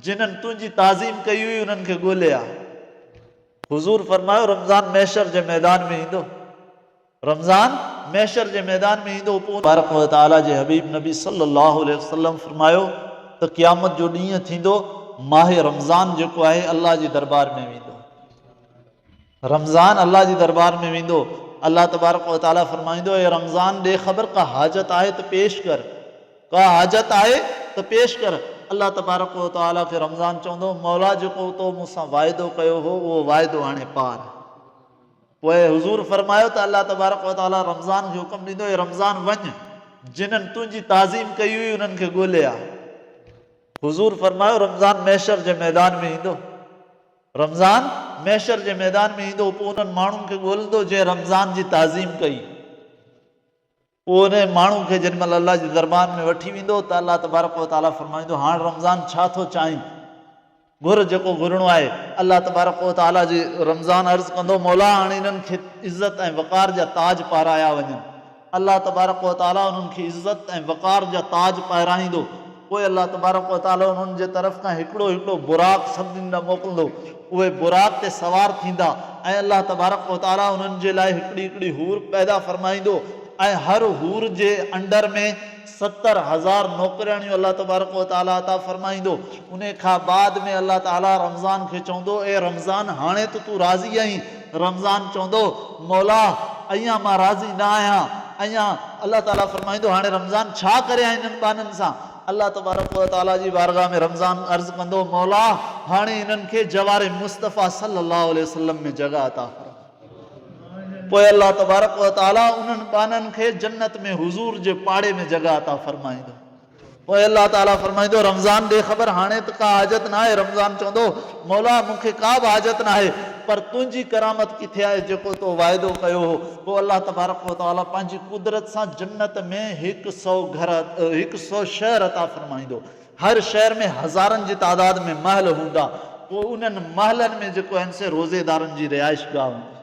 جنھن تنھنجي تعظيم ڪئي ھئي انھن کي ڳولي آء. حضور فرمايو، رمضان محشر جي ميدان ۾ ايندو. رمضان محشر جي ميدان ۾ ايندو پوء ان. تبارڪ و تعاليٰ جي حبيب نبي صلّي اللّٰه عليه وسلّم فرمايو ته قيامت جو ڏينھن ٿيندو ماھه رمضان جيڪو آھي الله جي دربار ۾ ويندو. رمضان الله جي دربار ۾ ويندو، الله تبارڪ و تعالي فرمائيندو، اي رمضان ڏي خبر ڪا حاجت آهي ته پيش ڪر، ڪا حاجت آهي ته پيش ڪر، الله تبارڪ و تعالي کي رمضان چوندو، مولا جيڪو تو مون سان واعدو ڪيو هو اهو واعدو هاڻي پار. پوء حضور فرمايو ته الله تبارڪ و تعالي رمضان کي حڪم ڏيندو، اي رمضان وڃ جنن تنهنجي تعظيم ڪئي هئي انهن کي ڳولي آ. حضور فرمايو، رمضان محشر جي ميدان ۾ ايندو. رمضان، محشر جي ميدان ۾ ايندو پوء انهن ماڻهن کي ڳولندو جنهن رمضان جي تعظيم ڪئي. پوء انهيء ماڻهو کي جيڏي مهل الله جي دربان ۾ وٺي ويندو ته الله تبارڪ و تعاليٰ فرمائيندو، هاڻ رمضان ڇا ٿو چاهين؟ گهر جيڪو گهرڻو آهي. الله تبارڪ و تعاليٰ جي رمضان عرض ڪندو، مولا هاڻ انهن کي عزت ۽ وقار جا تاج پارايا وڃن. الله تبارڪ و تعالي انهن کي عزت ۽ وقار جا تاج پهرائيندو. پوء الله تبارڪ و تعالي انهن جي طرف کان هڪڙو هڪڙو براق سڀني ڏانهن موڪلندو. اهي براق تي سوار ٿيندا ۽ الله تبارڪ و تعالي انهن جي لاء هڪڙي هڪڙي حور پيدا فرمائيندو ۽ هر حور جي انڊر ۾ ستر هزار نوڪرياڻيون الله تبارڪ و تعالي عطا فرمائيندو، انهي کان بعد ۾ الله تعالي رمضان کي چوندو، اي رمضان هاڻي ته تون راضي آهين، رمضان چوندو، مولا اڃان مان راضي نه آهيان، اڃان الله تعالي فرمائيندو هاڻي رمضان ڇا ڪريان انهن ٻانهن سان، الله تبارڪ و تعالي جي بارگاھ ۾ رمضان عرض ڪندو، مولا هاڻي انهن کي جوار مصطفيٰ صلّي اللّٰه عليه وسلّم ۾ جڳهه عطا فرما. پوء الله تبارڪ و تعالي انهن ٻانهن کي جنت ۾ حضور جي پاڙي ۾ جڳهه عطا فرمائيندو. پوء الله تعالي فرمائيندو، رمضان ڏي خبر، هاڻي ته ڪا حاجت ناهي، رمضان چوندو، مولا مون کي ڪا به حاجت ناهي، پر تنهنجي ڪرامت ڪٿي آهي جيڪو تو واعدو ڪيو هو؟ پوء الله تبارڪ و تعالي پنهنجي قدرت سان جنت ۾ هڪ سئو گهر، هڪ سئو شهر عطا فرمائيندو. هر شهر ۾ هزارن جي تعداد ۾ محل هوندا، پوء انهن محلن ۾ جيڪو هن سي روزيدارن جي رهائش گاهه هوندي.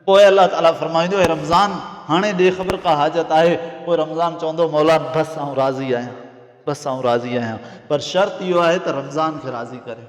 پوء الله تعالي فرمائيندو، اي رمضان! هاڻي ڏي خبر ڪا حاجت آهي؟ پوء رمضان چوندو، مولا! بس آئون راضي آهيان، بس آئون راضي آهيان، پر شرط اهو آهي ته رمضان کي راضي ڪريو.